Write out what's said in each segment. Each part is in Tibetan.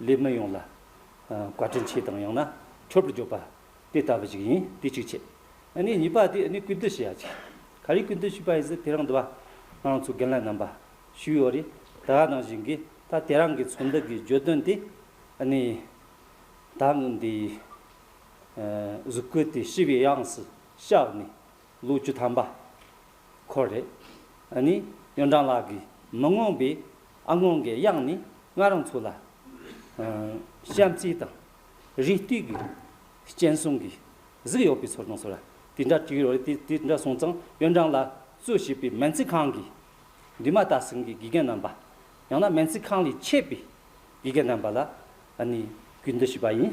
ལས་མི་ཡོངས་ལ་བཀའ་དྲིན་ཆེ་དང་ཡང་ན་མཆོད་པར་འཇོག་པ་དེ་ལྟ་བུ་ཞིག་ཡིན་དེ་གཅིག་བྱས། ནས་གཉིས་པ་དེ་ནས་གུས་འདུད་བྱེད་ཡ་ཅིག་ག་རེ་གུས་འདུད་བྱས་པ་ཡིན་ཟེར་དེ་རང་འདུ་བ་ང་ཚོ་རྒན་ལགས་རྣམ་པ་ཞུས་ཡོད་རེད་ད་ང་དང་གཞན་གྱིས་ད་དེ་རང་གི་ཚོ་འདུ་གི་བརྗོད་དོན་དེ་ནས་ད་ངུ་འདི་གཟུགས་སྐུ་དེ་ཤི་བའི་དབྱངས་སུ་བཞག་ནས་ལོ་བཅུ་ཐམ་པ་ཁོ་རེད། ཨ་ནི་ཡོན་ཀྲང་ལགས་ཀྱིས་མི་མངོན་པའི་ཨ་སྔོན་གྱི་དབྱངས་ནི་ང་རང་ཚོ་ལ་གཤམ་གསལ་དང་རིགས་བསྟུད་ཀྱི་སྤྱན་གསུམ་གྱི་གཟིགས་ཡོད་པའི་ཚོར་སྣང་བཟོ་ར་དེ་འདྲ་བྲིས་ཡོད་རེད་དེ་འདྲ་སོང་ཙང་ཡོན་ཀྲང་ལ་གཙོས་བྱས་པའི་མན་ཚི་ཁང་གི་འདུས་མ་དག་ཟིན་གྱི་དགེ་རྒན་རྣམ་པ་ཡང་ན་མན་ཚི་ཁང་ལས་མཆེད་པའི་དགེ་རྒན་རྣམ་པ་ལ་ཨ་ནི་གུས་འདུད་ཞུས་པ་ཡིན།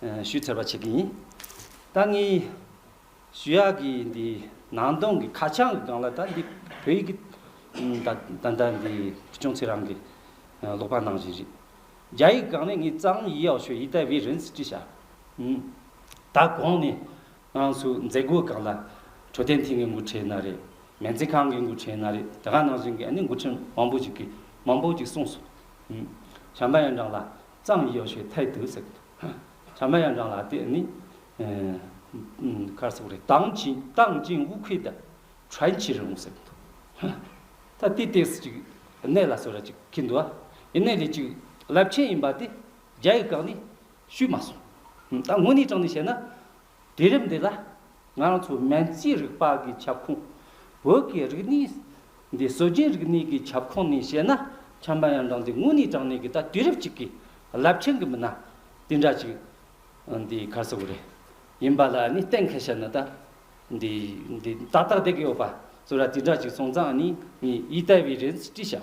ཞུས་ཚར་བ་བྱེད་ཀྱི་ཡིན། ད་ངས་ཞུ་ཡག་གི་འདི་ནང་དོན་གྱི་ཁ་བྱང་གི་སྒང་ལ་ད་འདི་བོད་ཡིག་གི་ད་ལྟ་འདི་བུ་ཆུང་ཚེ་རང་གིས་ཀློག་པ་གནང་བཞིན་རེད། རྒྱ་ཡིག་གི་སྒང་ནས་ངས་རྩ་བ་མི་ཡིད་ཡག་ཤོས་ཡིད་ལྟ་བའི་རིན་སྤྲི་བྱ། ད་གོང་ནས་ང་ཚོའི་མཛད་སྒོའི་སྒང་ལ་འཕྲོད་བསྟེན་ཐིང་གི་མགོ་ཁྲིད་ན་རེ། མེ་མཛེས་ཁང་གི་མགོ་ཁྲིད་ན་རེ་དེ་ག་ནང་བཞིན་གྱི་ཨ་ནི་མགོ་ཁྲིད་མང་པོ་ཞིག་གིས་མང་པོ་ཞིག་གསུངས་སོང། བྱམས་པ་ཡོན་ཀྲང་ལ། ཙམ་ཡོད་ཞེས་ཐལ་དུ་ཟེར་གྱི་འདུག་བྱམས་པ་ཡང་རང་ལ་དེ་ནི་ཁར་སོགས་རེད་དང་ཅིང་དང་ཅིང་དབུ་ཁུས་དང་ཁྲན་ཆི་རུང་ཟེར་གྱི་འདུག་ད་དེའི་སྟེགས་སུ་ཅིག་གནས་ལ་སོ་ར་ཅིག་ཁེལ་འདུག་ཨ་ནེ་ལས་ཅིག་རླབས་ཆེན་ཡིན་པ་དེ་རྒྱ་ཡིག་བཀག་ནས་ཞུས་མ་སོང་ད་དངོས་གནས་དྲང་ནས་བཤད་ན་དུས་རབས་འདི་ལ་ང་རང་ཚོ་སྨན་རྩིས་རིག་པ་གི་ཁྱབ་ཁོངས། བོད་ཀྱི་རིག་གནས་འདི་སྲོལ་རྒྱུན་རིག་གནས་གི་ཁྱབ་ཁོངས་ནས་བཤད་ན་ཁྱབ་མ་ཡང་འབྲང་འདི་དངོས་གནས་དྲང་གནས་གི་ད་དུས་རབས་གཅིག་གི་རླབས་ཆེན་གི་མི་སྣ་དེ་འདྲ་ཅིག་འདི་གར་ས་གོ་རེ་ཡིན་པ་ལ་ནི་གཏན་འཁེལ་བྱས་ན་ད་འདི་འདི་ཏག་ཏག་བསྡད་གི་ཡོད་པ་ཚོ་ར་དེ་འདྲ་ཅིག་སོང་ཙང་ནི་ངས་ཡིད་བརྟས་བའི་རེད་ཅི་བྱའོ།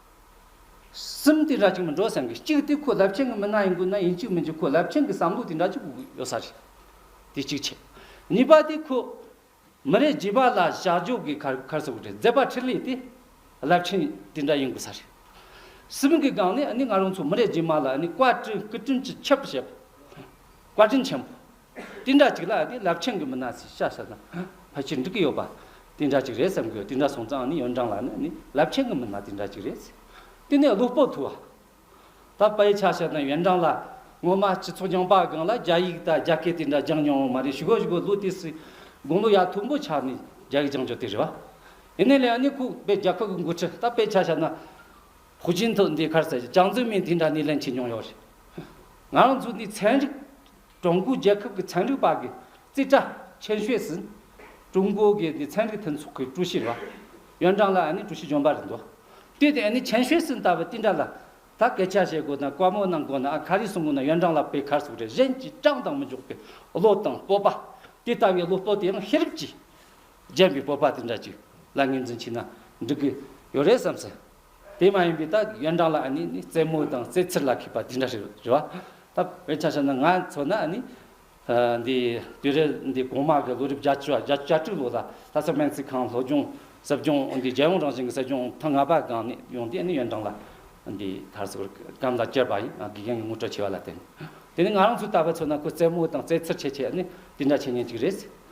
སེམས་དེ་འདྲ་ཅིག་མི་འགྲོ་སེམས་ཀྱི་གཅིག་དེ་ཁོ་རླབས་ཆེན་གྱི་མི་སྣ་ཡིན་དགོས་ན་ཡིན་གཅིག་མིན་གཅིག་ཁོ་རླབས་ཆེན་གྱི་བསམ་བློ་དེ་འདྲ་ཅིག་ཡོད་ས་རེད། དེ་གཅིག་བྱས། གཉིས་པ་དེ་ཁོ་མི་རེ་རྗེས་པ་ལ་བཞག་འཇོག་གི་ཁར་ཁར་སོ་རེད་མཛད་པ་ཁྲི་ལས་དེ་རླབས་ཆེན་དེ་འདྲ་ཡིན་དགོས་ས་རེད། སེམས་ཀྱི་སྒང་ནས་ནི་ང་རང་ཚོ་མི་རེ་རྗེས་མ་ལ་ནི་བཀའ་དྲིན་བཀའ་དྲིན་གྱི་ཁྱབ་བྱེད་པ། བཀའ་དྲིན་ཆེན་པོ། དེ་འདྲ་ཅིག་ལ་ཡང་དེ་རླབས་ཆེན་གྱི་མི་སྣ་སྲིད་ཤ་ཟ་ན་ཕལ་ཆེར་འགྲིག་གི་ཡོད་པ་དེ་འདྲ་ཅིག་རེད་བསམ་གི་ཡོད་དེ་འདྲ་སོང་ཙང་ནི་ཡོན་ཀྲང་ལགས་ནི་ནི་རླབས་ཆེན་གྱི་མི་སྣ་དེ་འདྲ་ཅིག་རེད་ཟེར། དེ་ནས་བློ་སྤོབས་འཐུལ་བ། ད་པའི་ཆ་ཤས་དང་ཡོན་ཀྲང་ལགས་ངོ་མ་སྤྱི་ཚོགས་རྐྱང་པ་སྒང་ལ་རྒྱ་ཡིག་དང་རྒྱ་སྐད་དེ་འདྲ་སྦྱང་མྱོང་བ་མ་རེད་ཞུ་གོ་ཞུ་གོ་ལོ་དེ་སི་དགུང་ལོ་ཡག་ཐུག་འབུ་ཆགས་ནས་རྒྱ་ཡིག་སྦྱང་ཆོག་དེ་རེད་བ། ཡིན་ནའི་ལ་ཡང་ནི་ཁུག་པའི་རྒྱ་ཁབ་གི་འགོ་ཁྲིད་ད་པའི་ཆ་ཤས་ན་ཧུ་ཅིན་ཐོ་འདི་གར་ཟེར་ཅང་ཙི་མིན་དེ་འདྲ་ནི་ལན་ཆེ་མྱོང་ཡོད་རེད། ང་རང་ཚོ་ནི་ཚན་རིག་ཀྲུང་གོའི་རྒྱལ་ཁབ་ཀྱི་ཚན་རིག་པ་གི་རྩིས་ཁྲ་ཆེན་ཤོས་སུ་ཀྲུང་གོ་གི་འདི་ཚན་རིག་མཐུན་ཚོགས་ཀྱི་ཀྲུའུ་ཞི་རོགས་ཡོན་ཀྲང་ལ་ནི་ཀྲུའུ་ཞི་འཇོན་པ་རེད་འདུག་དུས་དེ་ནི་ཆེན་ཤོས་སུ་ད་བའི་ཏིན་ཀྲ་ལ་ད་སྐད་ཆ་བཤད་དགོས་དང་བཀའ་མོལ་གནང་དགོས་ན་ཨ་ཁ་རིས་སུ་མངོན་ན་ཡོན་ཀྲང་ལ་པའི་ཁར་སུ་རེད་གཞན་གྱིས་ཀྲང་དང་མི་འཇོག་པའི་བློ་དང་སྤོབས་པ་དེ་ལྟ་བའི་བློ་སྤོབས་དེ་ཡང་ཤེས་རབ་ཀྱིས་བརྒྱན་པའི་སྤོབས་པ་དེ་འདྲ་ཅིག་ལ་ངོས་འཛིན་བྱས་ན་འགྲིག་གི་ཡོད་རེད་བསམ་སྲིད། དེ་མ་ཡིན་པའི་ད་ཡོན་ཀྲང་ལ་ཨ་ནི་ནི་རྩེད་མོ་དང་རྩེད་ཚེར་ལ་མཁས་པ་དེ་འདྲ་ཞིག་རེད་བ། ད་བས་ཆ་ཤས་ན་ང་ཚོ་ན་ཨ་ནི། འདི་དུས་རེ་འདི་གོང་མ་གི་ལོ་རིབ་བརྒྱ་བཅུ་བརྒྱ་བརྒྱ་དྲུག་ལོ་ལ་ད་ཆ་སྨན་རྩིས་ཁང་སློབ་སྦྱོང་ཟབ་སྦྱོང་འདི་རྒྱལ་ཡོངས་རང་བཞིན་གྱི་ཟབ་སྦྱོང་ཐ་ང་པ་སྒང་ནས་ཡོང་དུས་ཨ་ནི་ཡོན་ཀྲང་ལ་འདི་དར་སོར་སྐམ་ལ་བསྐྱལ་པ་ཡིན་དགེ་རྒན་གྱི་ངོ་སྤྲོད་ཆེ་བ་ལ་བརྟེན། དེ་ནི་ང་རང་ཚོའི་ད་བས་ཚོ་ན་ཁོས་རྩེད་མོ་དང་རྩེད་ཚེར་ཆེ་ཆེ་ཨ་ནི་དེ་འདྲ་བྱེད་ཉེན་ཅིག་རེད།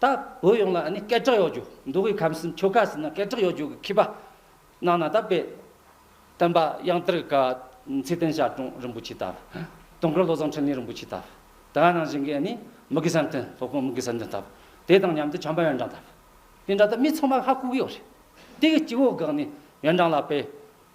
ད་བོད་ཡོངས་ལ་ནི་སྐད་གྲགས་ཡོད་རྒྱུ་འདུག་གི་ཁམས་སུ་ཆོལ་ཁ་ཟིན་ན་སྐད་གྲགས་ཡོད་རྒྱུ་གི་མཁས་པ་རྣམས་ན་ད་དཔེ། སྟོན་པ་དབྱངས་ཏིར་ཀ། ཚེ་བརྟན་ཤར་གྲོང་རིན་པོ་ཆེ་ལྟར། སྟོན་འཁོར་བློ་བཟང་འཕྲིན་ལས་རིན་པོ་ཆེ་ལྟར། དེ་ག་ནང་བཞིན་གྱི་ནི་མི་དགེ་བསམ་དོན་ལྷོ་ཁོངས་མི་དགེ་བསམ་དོན་ལྟར། དེ་དང་མཉམ་དུ་བྱམས་པ་ཡོན་ཀྲང་ལྟར། དེ་འདྲ་ད་མི་ཚང་མ་ཧ་གོ་གི་ཡོད་རེད། དེ་གི་སྐྱེ་བོ་དགག་ནི་ཡོན་ཀྲང་ལ་དཔེ།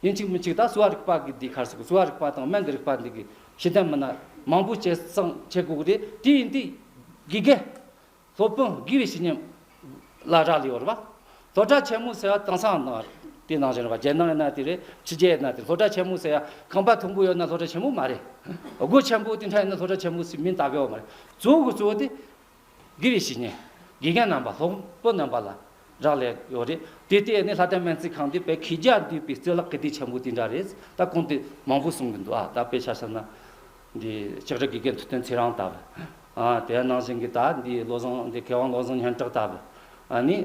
དབྱིན་གཅིག་མི་གཅིག་དང་གསོ་བ་རིག་པ་འདི་གར་སོང་གསོ་བ་རིག་པ་དང་སྨན་གྱི་རིག་པ་འདི་གི་ཤེས་ལྡན་མི་སྣ་མང་པོ་བྱེད་སང་བྱེད་དགོས་རེད་དེ་ཡིན་དུས་དགེ་རྒན། སློབ་དཔོན་དགེ་བའི་བཤེས་གཉེན། ལ་རག་ལས་ཡོད་རེད་པ། སློབ་གྲྭ་ཆེན་མོ་ཟེར་བ་དེང་སང་ནང་དེ་ནང་བཞིན་རེད་པ་རྒྱལ་ནང་ཡིན་ན་དེ་རེད་ཕྱི་རྒྱལ་ཡིན་ན་དེ་སློབ་གྲྭ་ཆེན་མོ་ཟེར་ཡ་ཁང་པ་དུམ་བུ་ཡོད་ན་སློབ་གྲྭ་ཆེན་མོ་མ་རེད། སྒོ་ཆེན་པོ་དེ་འདྲ་ཡིན་ན་སློབ་གྲྭ་ཆེན་མོ་ཟེར་མིང་ད་གའི་བ་མ་རེད་གཙོ་བོ་གཙོ་བོ་དེ་གི་རེ་ཞིག་ནས། དགེ་རྒན་རྣམ་པ་སློབ་བུ་རྣམ་པ་ལ་རག་ལས་ཡོད་རེད། དེ་ལྟས་ནས་ལྷ་ལྡན་སྨན་རྩིས་ཁང་འདི་བོད་ཁྱི་རྒྱ་འདུས་པའི་རྩོད་ལག་གི་སྡིག་ཆེན་པོ་དེ་འདྲ་རེད། ད་གོང་དུ་མང་པོ་གསུང་གི་འདུག་ཨ་ད་དཔེ་ཆ་ཟེར་ན། འདི་ལྕགས་རི་དགེ་རྒན་ཐུབ་བསྟན་ཚེ་རང་ལྟ་བུ། ཨ་དེའི་ནང་བཞིན་གྱི་ད་འདི་བློ་བཟང་འདི་མཁས་དབང་བློ་བཟང་སྙན་གྲགས་ལྟ་བུ། ཨ་ནི།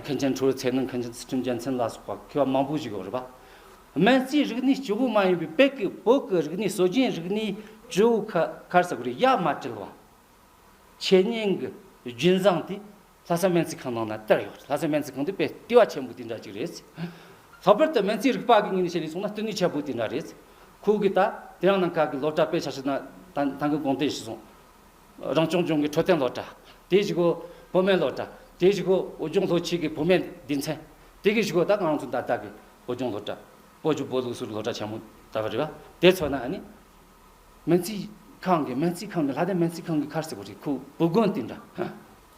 མཁན་ཆེན་ཁྲོ་བོའི་ཚེ་ནང་མཁན་ཆེན་ཚུལ་ཁྲིམས་རྒྱལ་མཚན་ལ་སོགས་པ་མཁས་པ་མང་པོ་ཞིག་ཡོད་རེད་པ། སྨན་རྩིས་རིག་གནས་སྤྱི་བོ་མ་ཡིན་པའི་བོད་ཀྱི་བོད་ཀྱི་རིག་གནས་སྲོལ་རྒྱུན་རིག་གནས་སྤྱི་བོ་ཁ་ཁར་ཟེར་གི་རེད་ཡ་མ་བྲེལ་བ། ཆོས་ཉིད་ཀྱི་རྒྱུན་བཟང་དེ་ལྷ་ས་སྨན་རྩིས་ཁང་ནང་ན་སྟེར་ཡོད། ལྷ་ས་སྨན་རྩིས་ཁང་དེ་དཔེ་ལྟེ་བ་ཆེན་པོ་དེ་འདྲ་ཅིག་རེད། ལྷག་པར་དུ་སྨན་རྩིས་རིག་པ་གི་ངོས་ནས་བཤད་ནས་སོང་ན་ལྟེ་གནས་ཆེན་པོ་དེ་འདྲ་རེད། ཁོང་གིས་ད་དེ་རང་ནང་ཁག་གི་སློབ་གྲྭ་དཔེ་ཆ་ཞིག་ན་ད་ད་གི་དགོངས་དོན་ཞིག་བཟུང། རང་སྐྱོང་ལྗོངས་ཀྱི་འཕྲོད་བསྟེན་སློབ་གྲྭ། དེ་བཞི་གོ་བོད་སྨན་སློབ་གྲྭ། དེ་བཞི་གོ་བོད་ལྗོངས་ལྷོ་ཆས་ཀྱི་བོད་སྨན་སྡེ་ཚན། དེ་གི་བཞི་གོ་ད་གི་རང་ཚུགས་ད་ད་གི་བོད་ལྗོངས་སློབ་གྲྭ། བོད་ཀྱི་བོད་ལུགས་སུ་རུ་སློབ་གྲྭ་ཆེན་མོ་ད་བ་རེད་བ། དེ་ཚོ་ན་ཨ་ནི། སྨན་རྩིས་ཁང་གི་སྨན་རྩིས་ཁང་གི་ལྷ་སྡེ་སྨན་རྩིས་ཁང་གི་ཁར་སེ་བོ་རི་ཁུག་བུ་དགོན་དེ་འདྲ་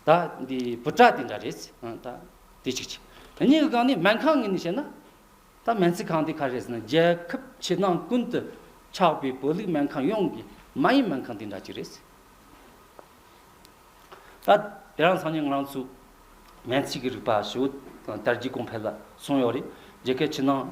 ད་འདི་བུ་བྲག་དེ་འདྲ་རེད་ད་དེ་གཅིག་གཅིག་དེ་གཉིས་ཀྱི་སྒང་ནས་སྨན་ཁང་གི་ནས་བཤད་ན་ད་སྨན་རྩིས་ཁང་དེ་ཁར་རེད་ཟེར་ན་རྒྱལ་ཁབ་ཕྱི་ནང་ཀུན་ཏུ་ཆགས་པའི་བོད་ལུགས་སྨན་ཁང་ཡོངས་ཀྱི་མ་ཡིན་སྨན་ཁང་དེ་འདྲ་གཅིག་རེད། ད་དེ་རང་སང་ཉིན་ང་རང་ཚོས་སྨན་རྩིས་ཀྱི་རིག་པ་ཞི་བོ་དར་རྒྱས་གོང་འཕེལ་ལ་སོང་ཡོད་རེད་རྒྱལ་ཁབ་ཕྱི་ནང་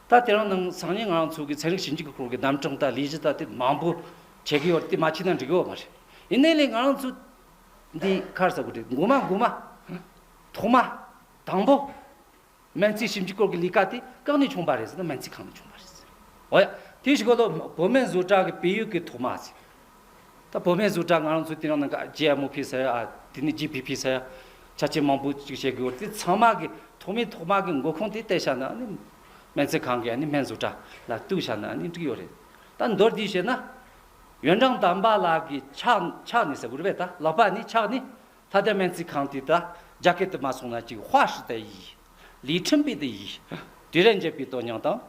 ད་དེ་རང་ནང་སང་ཉིན་ང་རང་ཚོ་གི་ཚན་རིག་ཞིབ་འཇུག་གི་སྐོར་གྱི་རྣམ་གྲངས་དང་ལས་གཞི་དང་དེ་མང་པོ་བྱེད་ཀྱི་ཡོད་རེད་དེ་མ་བྱས་ན་འགྲིག་གི་ཡོད་མ་རེད། ཡིན་ནའི་ལས་ང་རང་ཚོ་འདི་གར་བསགས་དགོས་རེད་འགོ་མ་འགོ་མ། ཐོག་མ། དང་པོ། སྨན་རྩིས་ཞིབ་འཇུག་སྐོར་གྱི་ལས་ཀ་དེ་གང་ནས་བྱུང་བ་རེད་ཟེར་ན་སྨན་རྩིས་ཁང་ནས་བྱུང་བ་རེད། འོ་ཡ། དེ་ཞིག་གོ་ལོ། གོ་སྨན་བཟོ་གྲྭ་གི་བལ་ཡུལ་གྱི་ཐོག་མ་ཟེར། ད་བོད་མའི་ཟུར་གྲྭ་ང་རང་ཚོའི་དེ་རིང་ནང GMOP ཟེར་ཡ་དེ་ནས GPP ཟེར་ཡ་ཆ་བྱད་མང་པོ་ཅིག་བྱེད་དགོས་དེ་ཚང་མ་གི་ཐོག་མའི་ཐོག་མ་གི་མགོ་ཁུངས་དེ་བལྟས་བྱ་ན་ནི་སྨན་རྩིས་ཁང་གི་སྨན་ཟུར་གྲྭ་ལ་གཏུགས་བྱ་ན་ནི་འགྲིག་ཡོད་རེད་ད་མདོར་བསྡུས་བྱས་ན། ཡོན་ཀྲང་དམ་པ་ལགས་ཀྱི་ཕྱག་ཕྱག་ནི་ཟེར་དགོས་རེད་པས་ད་ལག་པ་ནི་ཕྱག་ནི་ད་ལྟའི་སྨན་རྩིས་ཁང་དེ་དག་རྒྱ་སྐད་དུ་མ་སོང་ན་ཅིག་བྷ་ཧྲི་ཏའི་ཡིག། ལིས་ཁྲིམས་པའི་དེ་ཡིག། དེ་རས་འཇལ་པའི་དོན་སྙིང་དང།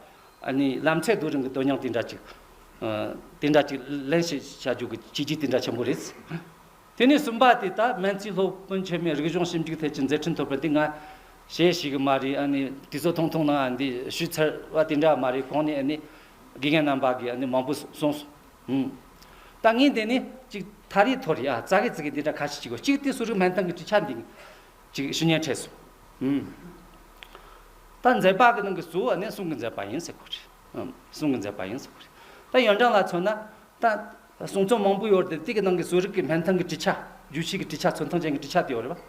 ནི་ལམ་ཚད་རྡོ་རིང་གི་དོན་སྙིང་དེ་འདྲ་ཅིག། དེ་འདྲ་ཅིག་ལེན་བྱ་རྒྱུ་གི་བྱས་རྗེས་དེ་འདྲ་ཆེན་པོ་རེད། དེ་ནས་གསུམ་པ་དེ་དག་སྨན་རྩིས་སློབ་དཔོན་ཆེན་མོས་རིག་གཞུང་ཞིབ་འཇུག་ཐད་ཀྱི་མཛད་འཕྲིན་ཐོབ་པ་འདི་ང་ཤེས་ཤེས་གི་མ་རེད་ཨ་ནི་དེ་ཚོ་ཐུང་ཐུང་ནང་འདི་ཞུས་ཚར་བ་དེ་འདྲ་མ་རེད་གོང་ནས་ཨ་ནི་དགེ་རྒན་རྣམ་པ་གིས་ཨ་ནི་མང་པོ་གསུངས་སོང། ཧུམ། ད་ངས་འདི་ནས་ཅིག་ཐ་རི་ཐོ་རི་ཨ་ཙ་གི་ཙི་གི་འདི་འདྲ་ཁ་ཤས་ཅིག་གོ་གཅིག་དེ་སུ་རིག་སྨན་ཐང་གི་བཀྲིས་ཆ་འདི་གི་ཅིག་ཞུ་ཉན་ཁྲེས་སོ། ཧུམ། ད་མཛད་པ་གི་ནང་གི་གཙོ་བོ་ནི་གསུང་གི་མཛད་པ་ཡིན་ཟེར་གོ་རེད། ཧུམ། གསུང་གི་མཛད་པ་ཡིན་ཟེར་གོ་རེད། ད་ཡོན་ཀྲང་ལ་མཚོན་ན། ད། གསུང་རྩོམ་མང་པོ་ཡོད་རེད་དེ་གི་ནང་གི་སུ་རིག་གི་སྨན་ཐང་གི་བཀྲིས་ཆ། རྒྱུད་བྱེད་ཀྱི་བཀྲིས་ཆ་མཚོན་ཐང་ཅན་གྱི་བཀྲིས་ཆ་དེ་ཡོད་རེད་པ།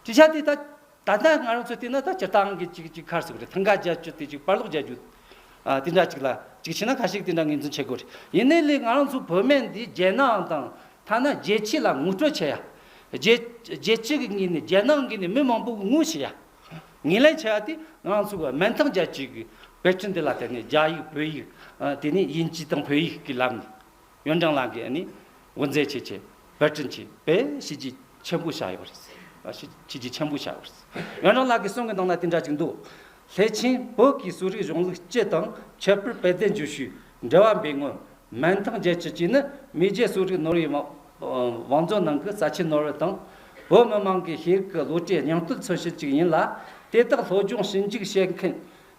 བཀྲིས་ཆ་དེ་ད། ད་ལྟ་ང་རང་ཚོས་བལྟས་ན་ད་སྤྱིར་བཏང་གི་གཅིག་གཅིག་ཁར་ཟེར་དགོས་རེད་ཐང་ག་རྒྱག་རྒྱུ་དེ་གཅིག་དཔར་སློག་རྒྱག་རྒྱུ། དེ་འདྲ་གཅིག་ལ་གཅིག་བྱས་ན་ཁ་ཞིག་དེ་འདྲ་ངོས་འཛིན་བྱེད་དགོས་རེད། ཡིན་ནའི་ལེ་ང་རང་ཚོ་བོད་སྨན་འདི་རྒྱལ་ནང་དང་ཐ་ན་རྒྱལ་སྤྱི་ལ་ངོ་སྤྲོད་བྱེད་ཡ། རྒྱལ་རྒྱལ་སྤྱི་གི་ངོས་ནས་རྒྱལ་ནང་གི་ནས་མི་མང་པོ་གི་ངོས་བྱེད་ཡ། ངེས་ལེན་བྱེད་ཡ་དེ་ང་རང་ཚོ་བོད་སྨན་ཐང་རྒྱ་བཅས་ཀྱི་དཔེ་སྐྲུན་འདི་ལ་བལྟས་ནས་རྒྱ་ཡིག་བོད་ཡིག་དེ་ནས་དབྱིན་ཇི་དང་བོད་ཡིག་གི་ལམ་ནས། ཡོན་ཀྲང་ལགས་ཀྱིས་ནི་དབུ་མཛད་བྱས་ཆེད་བེད་སྤྱོད་བྱས་པས་གཞི་གཅིག་ཆེན་པོ་བཞག་ཡོད་པ་རེད། གཞི་གཅིག་ཆེན་པོ་བཞག་ཡོད་པ་རེད། ཡོན་ཀྲང་ལགས་ཀྱི་གསུང་གི་ནང་ན་དེ་འདྲ་ཅིག་འདུག་སླད་ཕྱིན་བོད་ཀྱི་གསོ་རིག་གཞུང་ལུགས་སྤྱི་དང་ཁྱད་པར་དཔལ་ལྡན་རྗོ་ཤུལ་འགྲེལ་བ་འབེལ་ངོས་མན་ཐང་རྒྱལ་སྤྱི་བཅས་ནི་མི་རྒྱའི་གསོ་རིག་ནོར་ཡི་བང་མཛོད་ནང་གི་རྩ་ཆེའི་ནོར་བུ་དང། བོད་མི་དམངས་ཀྱི་ཤེས་རིག་གི་བློ་གྲོས་སྙིང་སྟོབས་མཚོན་བྱེད་ཅིག་ཡིན་ལ། དེ་དག་སློབ་སྦྱོང་ཞིབ་འཇུག་བྱེད་མཁན་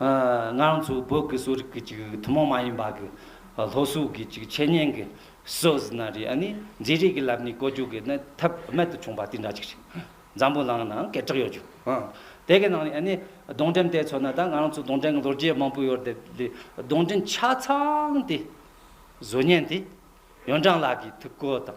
ང་རང་ཚོའི་བོད་ཀྱི་གསོ་རིག་གི་ཐུན་མོང་མ་ཡིན་པ་གྱི་ལྷོ་སོག་གི་འཆད་ཉན་གྱི་སྲོལ་ཟིན་ན་རེད་ཨ་ནི་མཛེས་རིག་གི་ལམ་ནས་བཀོལ་སྤྱོད་གྱི་ནི་ཐབས་རྨད་དུ་བྱུང་པ་དེ་འདྲ་ཅིག་རེད། འཛམ་བུའི་ནང་ནའང་སྐད་གྲགས་ཡོད་རྒྱུ། དེ་གའི་ནང་ནས་ཨ་ནི་གདོང་འགྲེམས་དེ་ཚོ་ན་ད་ང་རང་ཚོའི་གདོང་འགྲེམས་གྱི་ལོ་རྒྱས་མང་པོ་ཡོད་རེད་དེ་གདོང་འགྲེམས་ཆ་ཚང་དེ་བཟོ་ཉན་དེ་ཡོན་ཀྲང་ལགས་ཀྱི་ཐུགས་བཀོད་དང།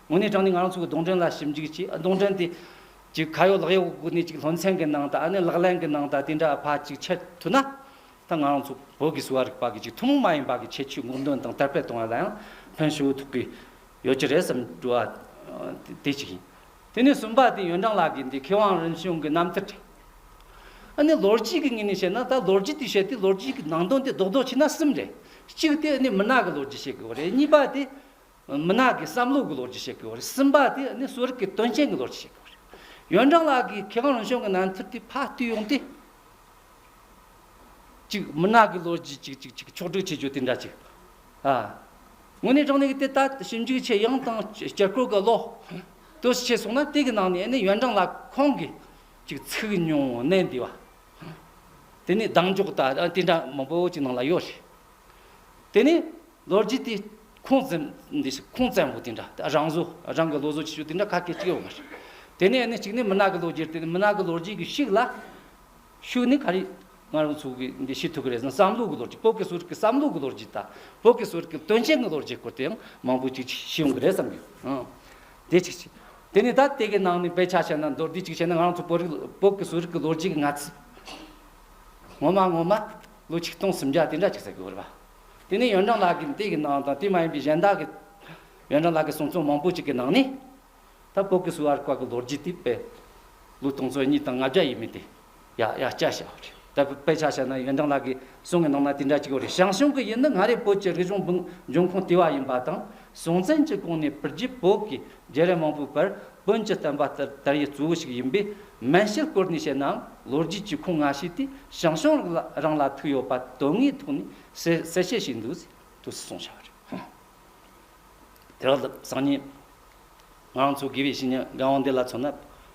དངོས་གནས་དྲང་ནས་ང་རང་ཚོའི་གདོང་དྲན་ལ་ཞིབ་འཇུག་བྱས་གདོང་དྲན་དེ། ཅིག་ཁ་ཡོག་ལག་ཡོག་གི་སྒོ་ནས་ཅིག་སློན་ཚན་གྱི་ནང་དང་ཨ་ནི་ལག་ལེན་གྱི་ནང་དང་དེ་འདྲ་ཕ་ཅིག་འཆད་ཐུབ་ན། ད་ང་རང་ཚོ་བོད་ཀྱི་གསོ་བ་རིག་པ་གྱི་ཅིག་ཐུན་མོང་མ་ཡིན་པ་གྱི་ཁྱད་ཆོས་སྔོག་འདོན་དང་དར་སྤེལ་གཏོང་བ་ལ་ཡང་ཕན་ཧྲིལ་བོ་ཐོབ་ཀྱི་ཡོད་ཀྱི་རེད་བསམ་གྱི་འགྲོ་བ་དེ་ཅིག་ཡིན། དེ་ནས་གསུམ་པ་དེ་ཡོན་ཀྲང་ལགས་ཀྱིས་འདི་མཁས་དབང་རིམ་བྱོན་གྱི་རྣམ་ཐར་དྲན། ཨ་ནི་ལོ་རྒྱུས་ཀྱི་ངོས་ནས་བཤད་ན་ད་ལོ་རྒྱུས་དེ་བཤད་དུས་ལོ་རྒྱུས་ཀྱི་ནང་དོན་དེ་རྡོག་རྡོག་བྱས་ན་གསུམ་རེད། གཅིག་དེ་ཨ་ནི་མི་ནག་གི་ལོ་རྒྱུས་བཤད་དགོས་པ་རེད་གཉིས་པ་དེ། མི་ནག་གི་བསམ་བློ་གི་ལོ་རྒྱུས་བཤད་དགོས་པ་རེད་སིམ་པ་དེ་ནི་གསོ་རིག་གི་དོན་རྐྱེན་གི་ལོ་རྒྱུས་བཤད་དགོས་པ་རེད་ཡོན་ཀྲང་ལགས་ཀྱིས་མཁས་དབང་རང་བྱུང་གི་ནང་མཐུར་དེ་ཕ་བཏུས་ཡོང་སྟེ། གཅིག་མི་ནག་གི་ལོ་རྒྱུས་ཅིག་ཅིག་ཅིག་ཕྱོགས་བསྒྲིགས་བྱེད་རྒྱུ་དེ་འདྲ་ཅིག་ཨ། དངོས་གནས་དྲང་གནས་དེ་ལྟ་ཞིབ་འཇུག་བྱེད་ཡང་དང་བསྐྱར་སྐོར་གི་ལོ་དུས་བྱས་སོང་ན་དེ་གི་ནང་ནས་ནི་ཡོན་ཀྲང་ལགས་ཁོང་གིས་ཅིག་ཚིག་ཉུང་གནད་འདི་བ་དེ་ནི་གདངས་འཇོག་དང་དེ་འདྲ་མང་པོ་ཅིག་ནང་ལ་ཡོད་རེད། དེ་ནས་ལོ་རྒྱུས་དེ་ཁུངས་བཙན་འདི་ཞིག་ཁུངས་བཙན་པོ་དེ་འདྲ་དེ་རང་བཟོ་རང་གི་ལོ་བཟོ་བྱེད་ཕྱོགས་དེ་འདྲ་ཁ་སྐད་ཅིག་ཡོད་མ་རེད། དེ་ནས་ནི་གཅིག་ནི་མི་ནག་གི་ལོ་རྒྱུས་དེ་ནི་མི་ནག་གི་ལོ་རྒྱུས་ཀྱི་ཤིག་ལ། ཤུགས་ནི་ག་རེ་ང་རང་ཚོ་གིས་འདི་ཤེས་ཐུབ་ཀྱི་རེད་བསམ་བསམ་བློ་གི་ལོ་རྒྱུས་བོད་ཀྱི་གསོ་རིག་གི་བསམ་བློ་གི་ལོ་རྒྱུས་དང་བོད་ཀྱི་གསོ་རིག་གི་དོན་རྐྱེན་གྱི་ལོ་རྒྱུས་སྐོར་དེ་ཡང་མང་པོ་ཅིག་ཤེས་ཡོང་གི་རེད་བསམ་གྱི། དེ་ཅིག་བྱས། དེ་ནས་ད་དེ་གི་ནང་ནས་དཔེ་ཆ་བྱས་ན་མདོར་བསྡུས་ཅིག་བྱས་ན་ང་རང་ཚོ་བོད་རིགས་བོད་ཀྱི་གསོ་རིག་གི་ལོ་རྒྱུས་ཀྱི་ང་ཚོས་ངོ་མ་ངོ་མ། ལོ་ཆིག་སྟོང་སུམ་བརྒྱ་དེ་འདྲ་ཆགས་ཚད་དགོས་པ་རེད། དེ་ནས་ཡོན་ཀྲང་ལགས་ཀྱིས་དེ་ཡི་ནང་དང་དེ་མ་ཡིན་པའི་གཞན་དག་གི། ཡོན་ཀྲང་ལགས་ཀྱི་གསུང་རྩོམ་མང་པོ་ཞིག་གི་ནང་ནས། ད་བོད་ཀྱི་གསུར་བ་བཀའ་གི་ལོ་རྒྱུས་དེ་དཔེ། ལོ་སྟོང་ཚོ་གཉིས་དང་ལྔ་བརྒྱ་ཡས་མས་དེ། ཡ་ཡ་སྐྱ་བྱས་པ་རེད། ད་དཔེ་ཆ་བཤད་ན་ཡོན་ཀྲང་ལགས་ཀྱི་གསུང་གི་ནང་ན་དེ་འདྲ་ཅིག་ཡོད་རེད་ཞང་ཞུང་གི་ཡུལ་ནི་སྔ་རེས་བོད་ཀྱི་རིག་གཞུང་འབྱུང་ཁུངས་ལྟེ་བ་ཡིན་པ་དང། གཞུང་ཚན་གྱི་སྒོ་ནས་བོད་རྒྱུད་བོད་ཀྱི་བརྒྱད་རེ་མང་པོའི་བར་བོན་གྱི་བསྟན་པ་ལྟར་དར་ཡུལ་གཙོ་བོ་ཞིག་ཡིན་པས་མན་ཤེལ་སྐོར་ནས་བཤད་ནའང་ལོ་རྒྱུས་ཀྱི་ཁུངས་མངའ་ཤས་དེ་ཞང་ཞུང་རང་ལ་ཐུག་ཡོད་པ་དོན་དངོས་ཐོག་ནས་གསལ་བཤད་བྱས་འདུག་ཟེར་དུ་གསུངས་བཞག་རེད། དེ་རག་ལ་སང་ཉིན་ང་རང་ཚོ་དགེ་བའི་བཤེས་གཉེན་རྒན་དབང་འདུས་ལ་མཚོན་ན།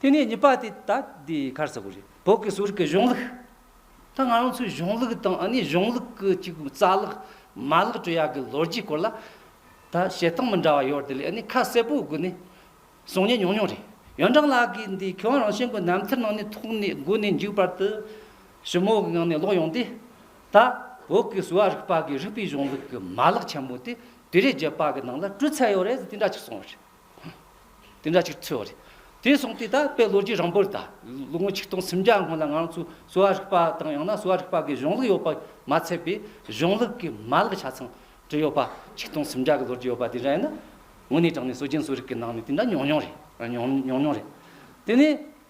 དེ་ནས་གཉིས་པ་དེ་ད་ལྟའི་གར་ས་ཁུལ་རེད། བོད་ཀྱི་སོར་གྱི་གཞུང་ལུགས། ད་ང་རང་ཚོའི་གཞུང་ལུགས་དང་ཨ་ནེའི་གཞུང་ལུགས་ཀྱི་གཅིག་པུའི་རྩ་ལག། མ་ལག་བཅོས་ཡག་གི་ལོ་རྒྱུས་སྐོར་ལ། ད་བཤད་སྟངས་མི་འདྲ་བ་ཡོད་དེ་ལས་ཨ་ནེ་ཁ་གསལ་པོའི་སྒོ་ནས། གསུང་ཉན་མྱོང་མྱོང་རེད། ཡོན་ཀྲང་ལགས་ཀྱིས་འདི་ཁྱོད་རང་བཞིན་གྱི་རྣམ་ཐར་ནང་ནས་ཐོག་ནས་བསྒུག་ནས་འཇུག་བར་དུ། ཞིབ་མོ་གི་ངང་ནས་ཀློག་ཡོང་དུས། ད་བོད་ཀྱི་གསོ་བ་རིག་པ་གིས་རིག་པའི་གཞུང་ལུགས་ཀྱི་མ་ལག་ཆེན་པོ་དེ་དུས་རེས་བརྒྱད་པ་གི་ནང་ལ་བཀྲུས་ཚར་ཡོད་རེད་ཟེར་དེ་འདྲ་ཅིག་གསུངས་ཡོད་རེད། དེ་འདྲ་ཅིག་འཚོལ་བ་རེད། དེ་སོང་སྟེ་ད་དཔལ་ལོ་རྒྱུས་རིང་པོར་ད་ལོ་ངོ་ཆིག་སྟོང་སུམ་བརྒྱ་སྔོན་ལ་ང་རང་ཚོའི་གསོ་བ་རིག་པ་དང་ཡང་ན་གསོ་བ་རིག་པ་འགའི་གཞུང་ལུགས་ཡོད་པ་མ་ཚད་པའི་གཞུང་ལུགས་ཀྱི་མ་ལག་ཆ་ཚང་བྲིས་ཡོད་པ་ཆིག་སྟོང་སུམ་བརྒྱ་གི་ལོ་རྒྱུས་ཡོད་པ་དེ་འདྲ་ཡིན་ན། དངོས་གནས་དྲངས་ནས་གསོ་སྦྱིན་གསོ་རིག་གི་ནང་ནས་དེ་འདྲ་ཉུང་ཉུང་རེད་ཉུང་ཉུང་རེད། དེ་ནས་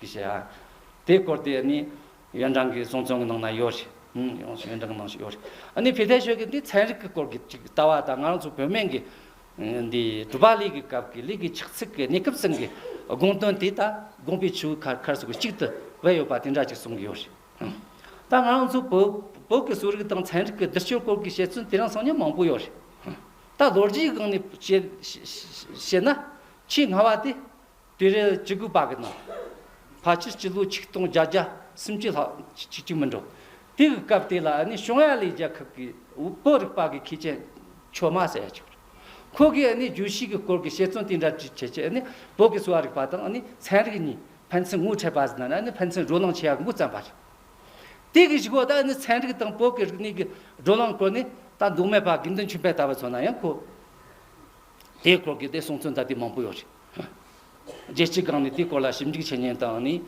ཞེས་བཤད། དེའི་སྐོར་དེ་ནི་ཡོན་ཀྲང་གི་གསུང་རྩོམ་གྱི་ནང་ན་ཡོད། ཡོན་ཀྲང་གི་ནང་ཞིག་ཡོད། ནི་བྷི་ཐེ་ཤོད་ཀྱིས་འདི་ཚན་རིག་གི་སྐོར་གྱི་ཅིག་ལྟ་བ་དང་ང་རང་ཚོ་བོད་སྨན་གྱི་འདི་གྲུབ་པ་ལི་གི་སྐབས་ཀྱི་ལི་གི་ཕྱག་ཚིག་གི་གནས་སྐབས་ཚང་གི་དགོངས་དོན་དེ་དང་དགོངས་པའི་ཆུ་བོའི་ཁར་ཁར་སོ་གི་གཅིག་ཏུ་བས་ཡོད་པ་དེ་འདྲ་ཅིག་གསུང་གི་ཡོད། ད་ང་རང་ཚོ་བོད་བོད་ཀྱི་གསོ་རིག་དང་ཚན་རིག་གི་བསྡུར་ཕྱོད་སྐོར་གྱི་བཤད་ཚུལ་དེ་རང་སང་ཉིན་མང་པོ་ཡོད། ད་ལོ་རྒྱའི་སྒང་ནས་བཤད་བཤད་ན་ཆེས་སྔ་བ་དེ་སྤེལ་རེས་ཅི་དགོས་པ་གི་གནང། ཕ་ཁྱི་སྤྱི་ལོ་ཆིག་སྟོང་བརྒྱ་རྒྱ་སུམ་ཅུ་ལྷག་ཅིག་ཅིག་མི་འགྲོ། དེ་གི་སྐབས་དེ་ལ་ནི་ཞོང་ཡ་ལི་རྒྱལ་ཁབ་གི་བོད་རིག་པ་གི་མཁས་ཅན་ཆོས་མ་ཟེར་ཡ་ཅིག་རེད། ཁོ་གིས་ནི་རྒྱུད་བཞི་གི་སྐོར་གི་བཤད་རྩོམ་དེ་འདྲ་བྲིས་བྱས་ཀྱི་ནི་བོད་ཀྱི་གསོ་བ་རིག་པ་དང་ནི་ཚན་རིག་གཉིས་ཕན་ཚུན་ངོ་འཕྲད་པ་ཟིན་ན་ནི་ཕན་ཚུན་བགྲོ་གླེང་བྱེད་ཡག་མགོ་བརྩམས་པ་རེད། དེ་གི་བཞི་བོ་ད་ནི་ཚན་རིག་དང་བོད་ཀྱི་རིག་གནས་གི་བགྲོ་གླེང་སྐོར་ནི་ད་འདུག་མེད་པ་དགེ་འདུན་ཆོས་འཕེལ་ལྟ་བུ་ཚོ་ན་ཡང་གོ། དེའི་སྐོར་གྱི་དེ་གསུང་ཚུལ་འདྲ་དེ་མང་པོ་ཡོད་རེད། རྒྱལ་སྤྱིའི་སྒང་ནས་དེའི་སྐོར་ལ་ཞིབ་འཇུག་བྱེད་མཁན་དང་ནི།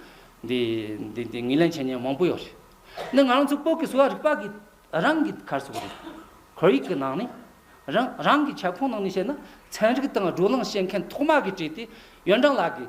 འདི་འདི་ངེས་ལེན་བྱེད་མཁན་མང་པོ་ཡོད་རེད། འདི་ང་རང་ཚོའི་བོད་ཀྱི་གསོ་བ་རིག་པ་གི་རང་གི་གར་སོགས་རེད། ཁོར་ཡུག་གི་ནང་ནས། རང་རང་གི་ཁྱབ་ཁོངས་ནང་ནས་བཤད་ན་ཚན་རིག་དང་བགྲོ་གླེང་བྱེད་མཁན་ཐོག་མ་གི་བྲིས་ཏེ་ཡོན་ཀྲང་ལགས་ཀྱིས་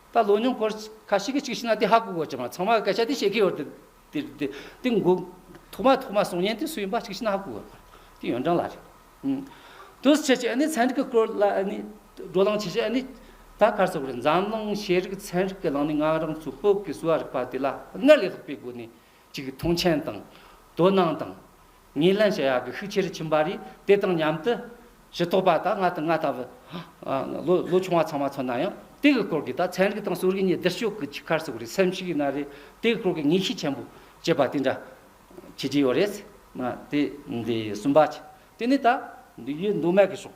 ད་ལོ་ཉུང་སྐོར་ཁ་ཤི་གི་གཅིག་ཤི་ན་དེ་ཧ་གོ་གོ་བྱེད་མ་ཚང་མ་སྐད་ཆ་དེ་བཤད་གི་ཡོད་དེ་འགོ། ཐོག་མ་ཐོག་མ་གསུང་སྙན་དེ་སུ་ཡིན་པ་གཅིག་ཤི་ན་ཧ་གོ་གོ་བྱེད་དེ་ཡོན་ཀྲང་ལགས་རེད། དུས་ཕྱིས་ཀྱི་ནི་ཚན་རིག་གི་སྐོར་ལ་ནི་བགྲོ་གླེང་བྱེད་ཆེད་ནི་ད་གར་སོང་རེད་འཛམ་གླིང་ཤེས་རིག་ཚན་རིག་གི་ནང་ནི་ང་རང་ཚོ་བོད་ཀྱི་གསོ་བ་རིག་པ་དེ་ལ་སྔར་ལས་ལྷག་པའི་སྒོ་ནས་གཅིག་མཐོང་ཆེན་དང། དོ་སྣང་དང། ངེས་ལེན་བྱ་ཡག་གི་ཤུགས་ཆེར་ཕྱིན་པ་རེད། དེ་དང་མཉམ་དུ། གཞི་ཐོག་པ་དག་ང་དང་ང་དང། ལོ་ཆུང་བ་ཚང་མ་ཚོ་ན་ཡང། དེའི་སྐོར་གྱི་དག་ཚན་རིག་དང་སྲོལ་རིག་གཉིས་བསྡུར་ཞོག་གི་ཆི་ཁར་སོགས་རེད་སེམས་ཤིག་ཡིན་ན་རེད། དེའི་སྐོར་གྱི་ངེས་ཤེས་ཆེན་པོ་བསྐྱེད་པ་དེ་འདྲ། བྱེད་ཀྱི་ཡོད་རེད། དེ། གསུམ་པ། དེ་ནི་ད། འདི་ཡོད་མདོ་མེད་ཀྱི་ཕྱོགས།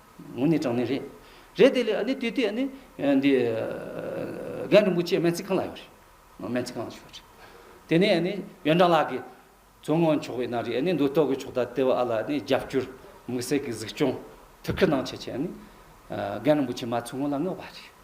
ངོ་ནས་དྲང་གནས་རེད། རེད་དེ་ལས་ཨ་ནི་དུས་དེ་ཨ་ནི། འདི། རྒན་རིན་པོ་ཆེ་སྨན་རྩིས་ཁང་ལ་ཡོད་རེད། སྨན་རྩིས་ཁང་ལ་ཞུས་པ་རེད། དེ་ནས་ཨ་ནི་ཡོན་ཀྲང་ལགས་ཀྱིས། མཚོ་སྔོན་ཕྱོགས་བས་ན་རེ་ཨ་ནི་མདོ་སྟོད་ཀྱི་ཕྱོགས་ད་ལྟའི་བ་ཨ་ལ་ཨ་ནི་རྒྱབ་སྐྱོར། དམིགས་བསལ་གྱི་གཟིགས་སྐྱོང། ཐུགས་ཁུར་གནང་ཆེད་ཆེད་ཨ་ནི། རྒན་རིན་པོ་ཆེ་མ་མཚོ་སྔོན་ལ་མངགས་པ་རེད།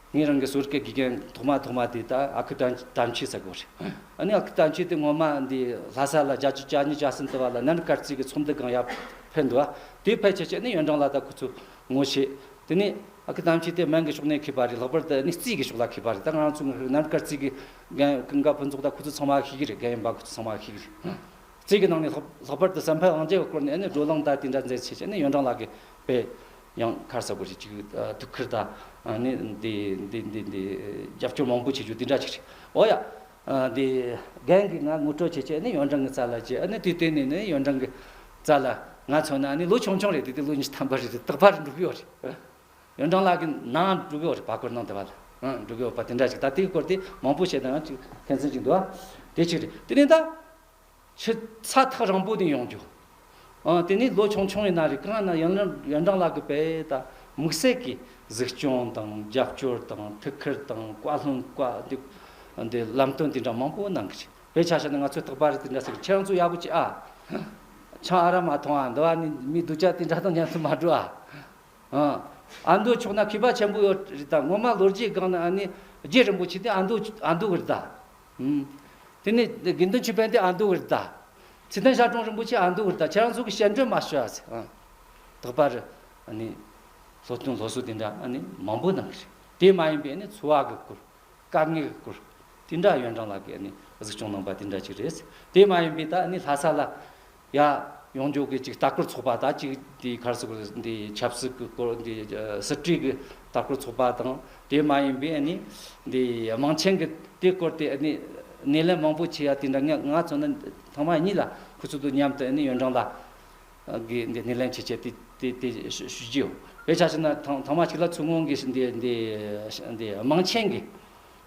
ངས་རང་གི་ཟུར་གྱི་དགེ་རྒན་ཐོག་མ་ཐོག་མ་དེ་ད་ཨ་ཁུ་དྲང་ཆེ་ཟེར་གོ་རེད། ཨ་ཨ་ཁུ་དྲང་ཆེ་དེ་སྔོན་མ་འདི་ལྷ་ས་ལ་རྒྱ་ཆུ་བཅའ་གཉིས་བཅའ་ཟིན་དུ་བ་ལ་ནན་དཀར་རྩིས་ཀྱི་ཚོམས་འདི་གང་ཡག་ཕེབས་འདུག་ཨ་དེ་ཕལ་ཆེ་ཆེ་ནི་ཡོན་ཀྲང་ལ་ད་ཁོ་ཚོས་ངོ་ཤེས། དེ་ནས་ཨ་ཁུ་དྲང་ཆེ་དེ་སྨན་གྱི་ཕྱོགས་ནས་ཁེབས་པ་རེད་ལྷག་པར་དུ་ནི་རྩིས་ཀྱི་ཕྱོགས་ལ་ཁེབས་པ་རེད་ད་ང་རང་ཚོ་ནན་དཀར་རྩིས་ཀྱི་རྒན་ཀུན་དགའ་ཕུན་ཚོགས་ད་ཁོ་ཚོ་ཚང་མ་ཤེས་ཀྱི་རེད་རྒན་ཡོན་པ་ཁོ་ཚོ་ཚང་མ་ཤེས་ཀྱི་རེད། རྩིས་ཀྱི་ནང་ནས་ལྷག་པར་དུ་བསམ་འཕེལ་དབང་རྒྱལ་གྱི་སྐོར་ནས་ནི་བགྲོ་གླེང་ད་དེ་འདྲ་མཛད་ཆེ་ཆེ་ནི་ཡོན་ཀྲང་ལགས་ཀྱི་དཔེ། ཡང་ཁར་ས་གོ་ཞིག་ཅིག་ཐུགས་ཁུར་ད་ནི་འདི་འདི་འདི་འདི་རྒྱབ་སྐྱོར་མང་པོ་བྱེད་རྒྱུ་འདི་འདྲ་ཅིག་རེད་ཨོ་ཡ། འདི་རྒན་གྱིས་ང་ངུ་སྤྲོད་བྱེད་ཆེད་ནི་ཡོན་ཀྲང་གི་རྩ་ལ་བྱས་ཨ་ནི་དུས་གཏན་ནས་ནི་ཡོན་ཀྲང་གི་རྩ་ལ་ང་མཚོན་ན་ནི་ལོ་ཆུང་ཆུང་རེད་འདི་དེ་ལོ་ཉིས་ཐམ་པ་རེད་རྟག་པར་འགྲུབ་ཡོད་རེད། ཡོན་ཀྲང་ལགས་ཀྱི་ནང་འགྲུབ་ཡོད་རེད་བ་སྐོར་ནང་དེ་བ་ལ་འགྲུབ་ཡོད་པ་དེ་འདྲ་ཅིག་ད་དེའི་སྐོར་དེ་མང་པོ་བཤད་ད་ཡང་ཅིག་ཕན་ཚུན་ཅིག་འདུག་ཨ་དེ་ཅིག་རེད་དེ་ནས་ད། ཆུ་ཚ་ཐག་རིང་པོ་དེ་ཡོང་རྒྱུ། དེ་ནས་ལོ་ཆུང་ཆུང་བའི་ན་རེ་གང་ན་ཡོན་ཀྲང་ལགས་ཀྱི་བལ་དང་དམིགས་བསལ་གྱི་གཟིགས་སྐྱོང་དང་རྒྱབ་སྐྱོར་དང་ཐུགས་ཁུར་དང་བཀའ་ལྷུང་བཀའ་ལམ་སྟོན་དེ་འདྲ་མང་པོ་གནང་གི་རེད་བལ་ཆ་ཤ་ནི་ང་ཚོའི་ཐག་པ་རེད་དེ་འདྲ་ཟེར་གི་ཁྱེད་རང་ཚོ་ཡག་པོ་བྱེད་ཨ། ཆང་ཨ་ར་མ་འཐུང་ཨ་འདི་བ་ནི་མི་སྡུག་ཅག་དེ་འདྲ་དང་མཉམ་དུ་མ་འགྲོ་ཨ། ཨ་འདོད་ཆོག་ན་མཁས་པ་ཆེན་པོ་ཡོད་རེད་ད་ངོ་མ་ལོ་རྒྱས་སྒང་ན་ཨ་ནི་རྒྱས་རིན་པོ་ཆེ་དེ་ཨ་འདོད་ཨ་འདོད་གི་རེད་ད། དེ་ནས་དགེ་འདུན་ཆོས་དཔལ་ཏེ་ཨ་མདོ་བིར་ཏཱ། ཚེ་ཏན་ཤར་གྲོང་རིན་པོ་ཆེ་ཨ་མདོ་བིར་ཏཱ་ཁྱེད་རང་ཚོ་གི་བཤད་འགྲོས་མ་ཤོད་ཨ་ཚེ། ད་བར་ནི་སློབ་སྟོན་སློབ་གསོ་དེ་འདྲ་མང་པོ་གནང་གི་རེད། དེ་མ་ཡིན་པའི་འཚོ་བ་གི་སྐོར། དཀའ་ངལ་གི་སྐོར། དེ་འདྲ་ཡོན་ཀྲང་ལགས་ཀྱིས་གཟིགས་སྐྱོང་གནང་པ་དེ་འདྲ་ཅིག་རེད། དེ་མ་ཡིན་པའི་ད་ལྷ་ས་ལ་ཡ། ཡོངས་རྗོག་གི་ཅིག་ལྟ་སྐོར་ཚོགས་པ་དང་ཅིག་དེའི་ཁར་སུ་འདི་ཆབ་སྲིད་ཀྱི་སྐོར་འདི་སྲིད་གྲོས་ཀྱི་ལྟ་སྐོར་ཚོགས་པ་དང་དེ་མ་ཡིན་པའི་ནི་འདི་དམངས་ཆེན་གྱི་དེ་སྐོར་དེ་ནི་སྣེ་ལེན་མང་པོ་བྱས་ཡ་དེ་འདྲ་ངས་ང་ཚོ་ནི་ཐང་མ་གཉིས་ལ་ཁུ་ཚུར་དུ་མཉམ་དུ་ནི་ཡོན་ཀྲང་ལ་གི་འདི་སྣེ་ལེན་བྱེད་བྱེད་དེ་དེ་དེ་ཞུ་རྒྱུ་ཡོད་དཔེ་ཆ་ཞིག་ན་ཐང་མ་ཞིག་ལ་ཚུར་སྔོན་གྱི་འདི་དམངས་ཆེན་གྱི་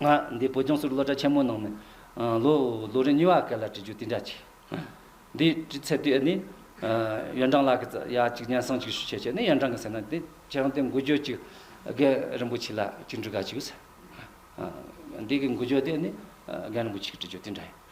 ང་འདི་བོད་ལྗོངས་སུ་སློབ་གྲྭ་ཆེན་མོ་ནང་ནས་ལོ་ལོ་རེ་གཉིས་བ་སྐད་ལ་བྲིས་རྒྱུ་དེ་འདྲ་བྱས། འདི་བྲིས་ཚེ་དེ་ནི་ཡོན་ཀྲང་ལགས་ཀྱིས་ཡ་གཅིག་སྙན་གསང་གཅིག་ཞུ་བྱས་བྱས་ནས་ཡོན་ཀྲང་གིས་ཟེར་ན་དེ་ཁྱེད་རང་དེ་འགུལ་བསྐྱོད་ཅིག་རྒན་རིན་པོ་ཆེ་ལ་གཅིག་འབྲི་ག་བྱོས་ཟེར། འདི་གི་འགུལ་བསྐྱོད་དེ་ནི་རྒན་རིན་པོ་ཆེ་གིས་བྲིས་རྒྱུ་དེ་འདྲ་ཡིན།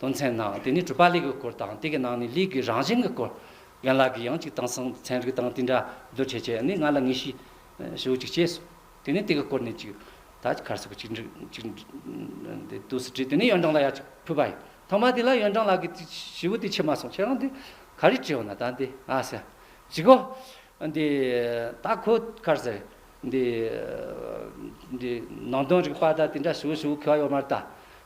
དོན་ཚན་ནང་དེ་ནི་གྲུབ་པ་ལེགས་ཀྱི་སྐོར་དང་དེ་གི་ནང་ནས་ལེགས་ཀྱི་རང་བཞིན་གྱི་སྐོར། རྒན་ལགས་ཀྱིས་ཡང་གཅིག་དེང་སང་ཚན་རིག་དང་དེ་འདྲ་བསྡུར་བྱེད་ཆེད་ནི་ང་ལ་ངེས་ཤེས་ཞུ་གཅིག་བྱས་སོང། དེ་ནི་དེ་གི་སྐོར་ནས་གཅིག་ད་ཁར་སོགས་གཅིག་འདྲི་གཅིག་འདྲི་དུས་སུ་དྲིས་དེ་ནི་ཡོན་ཀྲང་ལ་ཡང་གཅིག་ཕུལ་བ་ཡིན། ཐོག་མ་དེ་ལ་ཡོན་ཀྲང་ལགས་ཀྱིས་ཞེ་བོ་དེ་ཕྱེ་མ་སོང་ཁྱེད་རང་དེ་ག་རེ་དྲིས་འོ་ན་ད་འདི་ང་ཟེར། གཅིག་གོ། འདི་ད་ཁོ་ཁར་ཟེར། འདི། འདི་ནང་དོན་རིག་པ་ད་དེ་འདྲ་ཞུ་ཞུ་ཁེལ་བ་ཡོད་མ་རེད་ད།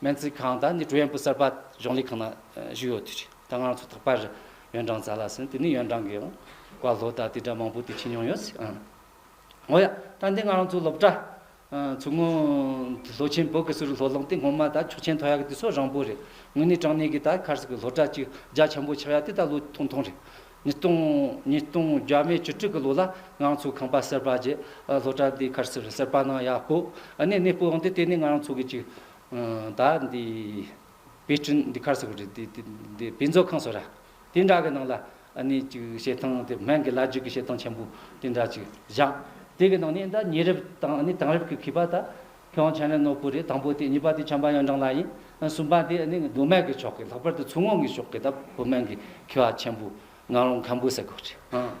སྨན་རྩིས་ཁང་དང་ནི་ཀྲུའུ་ཡན་པུའུ་གསར་པ་གཞུང་ལས་ཁང་ནང་བཞུགས་ཡོད་དུས་ད་སྔ་རང་ཚོ་ཐོག་པ་རུ་ཡོན་ཀྲང་ཙཱ་ལ་སོན་དེ་ནས་ཡོན་ཀྲང་གི་ཡང་བཀའ་སློབ་དང་དེ་འདྲ་མང་པོ་དེ་ཁྱེར་མྱོང་ཡོད་ཨང། འོ་ཡ། ད་ལྟའི་སྔ་རང་ཚོའི་སློབ་གྲྭ། མཚོ་སྔོན། ལྷོ་ཆེན་བོད་ཀྱི་སུ་རི་ལྷོ་ལུང་སྟེ་སྔོན་མ་དང་ཆུ་ཆེན་ཐོ་ཡག་དེ་ཚོ་རང་བོད་རེད། དངོས་གནས་དྲང་གནས་ཀྱི་ད་ཁར་སི་ཀའི་སློབ་གྲྭ་གཅིག་རྒྱ་ཆེན་པོ་ཆགས་ཡ་དེ་ད་ལོ་ཐུང་ཐུང་རེད། ཉིས་སྟོང་ཉིས་སྟོང་བརྒྱ་མའི་བཅུ་དྲུག་གི་ལོ་ལ་ང་རང་ཚོའི་ཁང་པ་གསར་པ་བརྒྱད་སློབ་གྲྭ་འདིའི་ཁར་ཟུར་གསར་པ་ནང་ཡག་པོ་གནས་གནས་སྤོ་ཡོང་དུས་དེ་ནས་ང་རང་ཚོ་གི་ཅིག་ད་འདི་དཔེ་སྐྲུན་འདི་ཁར་ཟུར་གོ་རེད་དེ་དཔེ་མཛོད་ཁང་ཟོ་ར་དེ་འདྲ་གི་ནང་ལ་གནས་ཅིག་བྱེད་སྟངས་དེ་སྨན་གི་བླ་བརྒྱུད་གི་བྱེད་སྟངས་ཆེན་པོ་དེ་འདྲ་ཅིག་བཞག་དེ་གི་ནང་ནས་ད་ཉེ་རབས་དང་དེང་རབས་ཀྱི་མཁས་པ་ད་ཁྱོད་བྱས་ན་ནོར་བུ་རེད་དང་པོ་དེ་གཉིས་པ་དེ་བྱམས་པ་ཡོན་ཀྲང་ལགས་ཡིན་གསུམ་པ་དེ་ནི་མདོ་སྨད་ཀྱི་ཕྱོགས་ཀྱི་ལྷག་པར་དུ་མཚོ་སྔོན་གྱི་ཕྱོགས་ཀྱི་སྟབས་བུ་སྨན་གྱི་ཁེ་བ་ཆེན་པོ་ངག་རོང་མཁན་པོ་ཟེར་དགོས་རེད་ཨང།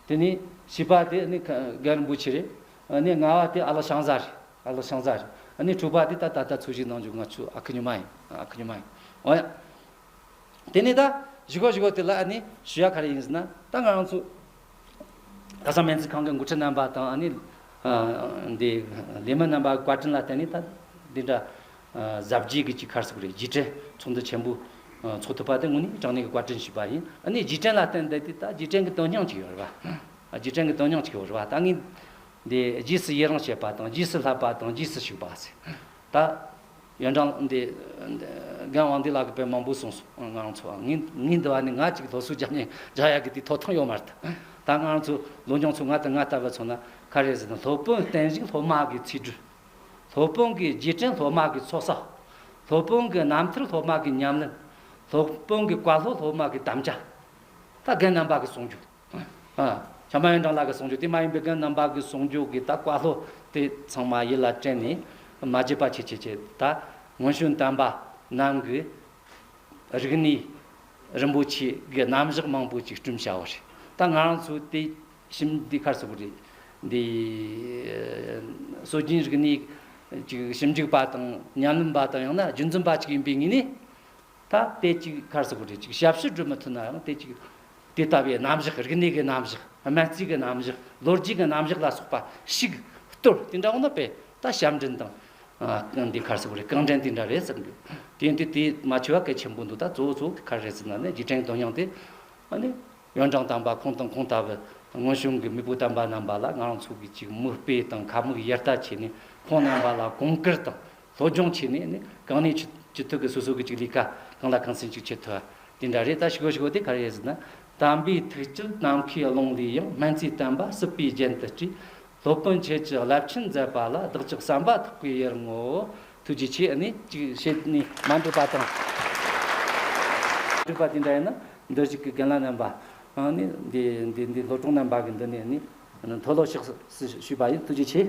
དེ་ནས་བཞི་པ་དེ་ནི་ག་རིན་པོ་ཆེ་རེད། ནས་ལྔ་བ་དེ་ཨ་ལགས་ཤང་བཟའ་རེད་ཨ་ལགས་ཤང་བཟའ་རེད། ནས་དྲུག་པ་དེ་ད་ད་ལྟ་འཚོ་གཞིས་ནང་འཇུག་ང་ཚོའི་ཨ་ཁུ་ཉི་མ་ཡིན་ཨ་ཁུ་ཉི་མ་ཡིན། འོ་ཡ། དེ་ནས་ད་བཞི་གོ་བཞི་གོ་དེ་ལ་ནི་ཞུ་ཡ་ག་རེ་ཡིན་ཟེར་ན་ད་ང་རང་ཚོ་ཁ་སང་སྨན་རྩིས་ཁང་གི་འགོ་ཁྲིད་རྣམ་པ་དང་ཨ་ནེ། འདི། ལས་མི་རྣམ་པ་བཀའ་དྲིན་ལ་བརྟེན་ནས་ད་འདི་འདྲ། གཟབ་རྒྱས་ཀྱི་གཅིག་ཁར་སོགས་རེད་རྗེས་དྲན་ཚོགས་འདུ་ཆེན་པོ། འཚོགས་ཐུབ་པ་དེ་དངོས་གནས་དྲང་གནས་ཀྱི་བཀའ་དྲིན་ཞུས་པ་ཡིན་ཨ་ནེ་རྗེས་དྲན་ལ་བརྟེན་ནས་འདི་ད་རྗེས་དྲན་གྱི་དོན་སྙིང་གཅིག་ཡོད་རེད་པ། རྗེས་དྲན་གྱི་དོན་སྙིང་གཅིག་ཡོད་རེད་པ་ད་ངས། འདི་རྗེས་སུ་ཡི་རང་བྱེད་པ་དང་རྗེས་སུ་བསླབ་པ་དང་རྗེས་སུ་ཞུགས་པ། ད། ཡོན་ཀྲང། འདི། རྒན་དབང་འདུས་ལགས་ཀྱི་དཔེ་མང་པོ་གསུངས་སོང། ང་རང་ཚོ། ངའི་འདི་བ་ནི་ང་གཅིག་གི་ལྷོ་སུའུ་རྒྱ་མིའི་རྒྱ་ཡག་གི་དེའི་ཐོག་ཐང་ཡོད་མ་རེད། ད་ང་རང་ཚོ་ལོ་འབྱུང་ཚོ་ང་དང་ང་ལྟ་བུ་ཚོ་ན་ག་རེ་ཟེར་ན་ལྷོ་དཔོན་བསྟན་བཞུགས་ལྷོ་དམག་གི་ཚིག་འབྲུ། ལྷོ་དཔོན་གྱི་རྗེས་དྲན་ལྷོ་དམག་གི་ཚོགས་བསགས། ལྷོ་དཔོན་གྱི་རྣམ་ཐར་ལྷོ་དམག་གི་ཉམས་ལེན། ལྷོ་དཔོན་གྱི་བཀའ་སློབ་ལྷོ་དམག་གི་དམ་བཅའ། ད་རྒན་རྣམ་པ་གྱི་གསུང་རྒྱུན། ཨ། བྱམས་པ་ཡོན་ཀྲང་ལགས་ཀྱི་གསུང་ཆོས་དེ་མ་ཡིན་པའི་རྐྱེན་རྣམ་པ་གི་གསུང་ཆོས་ཀྱི་དག་པ་ལྷོད་དེ་ཚང་མ་ཡིད་ལ་དྲན་ནས་མ་བརྗེད་པ་ཆེ་ཆེ་བྱས་ད། དངོས་བྱོན་དམ་པ་རྣམས་ཀྱི་རིག་གནས་རིན་པོ་ཆེ་གི་རྣམ་གཞག་མང་པོ་ཅིག་སྐྲུན་བྱའོ་རེད་ད་ང་རང་ཚོའི་དེ་ཞིབ་འདི་ཁར་སོགས་རེད་དེ། སྲོལ་རྒྱུན་རིག་གནས་ཀྱི་ཞིབ་འཇུག་པ་དང་ཉམས་ལེན་པ་དང་ཡང་ན་རྒྱུན་འཛིན་པ་ཅིག་ཡིན་པའི་ངོས་ནས། ད་ལྟའི་ཅིག་གར་སོགས་རེ་ཅིག་ཞབས་ཞུ་སྒྲུབ་མི་ཐུབ་ནའང་དེ་ཅིག་དེ་ལྟ་བུའི་རྣམ་གཞག་རིག་གནས་ཀྱི་རྣམ་གཞག་སྨན་རྩིས་ཀྱི་རྣམ་གཞག་ལོ་རྒྱུས་ཀྱི་རྣམ་གཞག་ལ་སོགས་པ་ཞིག་གཏོད་དེ་འདྲ་བ་ནི་དཔེ་ལྟ་ཞབས་འདྲེན་དང། འདི་གར་སོགས་རེ་རྐང་འདྲེན་དེ་འདྲ་རེད་ཟེར་འདུག་དེ་འདི་དེ་མ་ཆོས་བ་གལ་ཆེན་པོ་འདུག་ད་གཙོ་བོ་གཙོ་བོ་གི་གར་རེད་ཟེར་ན་ནི་རྗེས་དྲན་དོན་སྙིང་དེ། ཡོན་ཀྲང་དམ་པ་ཁོང་དང་ཁོང་ལྟ་བུ་སྔོན་བྱུང་གི་མི་བུ་དམ་པ་རྣམས་པ་ལ་ང་རང་ཚོ་གིས་ཅིག་མུ་སྤེལ་དང་ཁ་མུག་ཡར་ལྟ་བྱས་ནས་ཁོང་རྣམས་པ་ལ་གོང་བཀུར་དང། སློབ་སྦྱོང་བྱས་ནས་ནི་གང་ནས་ཅི་ཅི་ཐུབ་ཀྱི་སོ་སོ་གི་ཅིག་ལས་ཀ་གང་ལ་གང་ཟིན་ཅིག་བྱེད་ཐུབ་བ་དེ་འདྲ་རེད་ད་ཞི་གོ་ཞི་གོ་དེ་ག་རེ་ཟེར་ན། དམ་པའི་ཐུགས་བསྐྱེད་ནམ་མཁའི་ཀློང་ལས་ཡང་སྨན་རྩིས་བསྟན་པ་སྲིད་པའི་རྒྱན་དུ་བསྐྲུན། སློབ་དཔོན་ཁྱེད་ཀྱི་རླབས་ཆེན་མཛད་པ་ལ་བདག་ཅག་བསམ་པ་ཐག་པའི་ཡར་ངོ། ཐུགས་རྗེ་ཆེ་ནི་ཅིག་བྱེད་ནི་མ་འགྲུབ་པ་དང། འགྲུབ་པ་དེ་འདྲ་ཡིན་ན་འདི་བཞུགས་ཀྱི་རྒན་ལགས་རྣམས་པ། ནི་འདི་འདི་འདི་སློབ་ཆུང་རྣམས་པ་གི་འདི་ནས་ནི་མཐོ་སློབ་ཤག་སུ་ཞུས་པ་ཡིན་ཐུགས་རྗེ་ཆེ།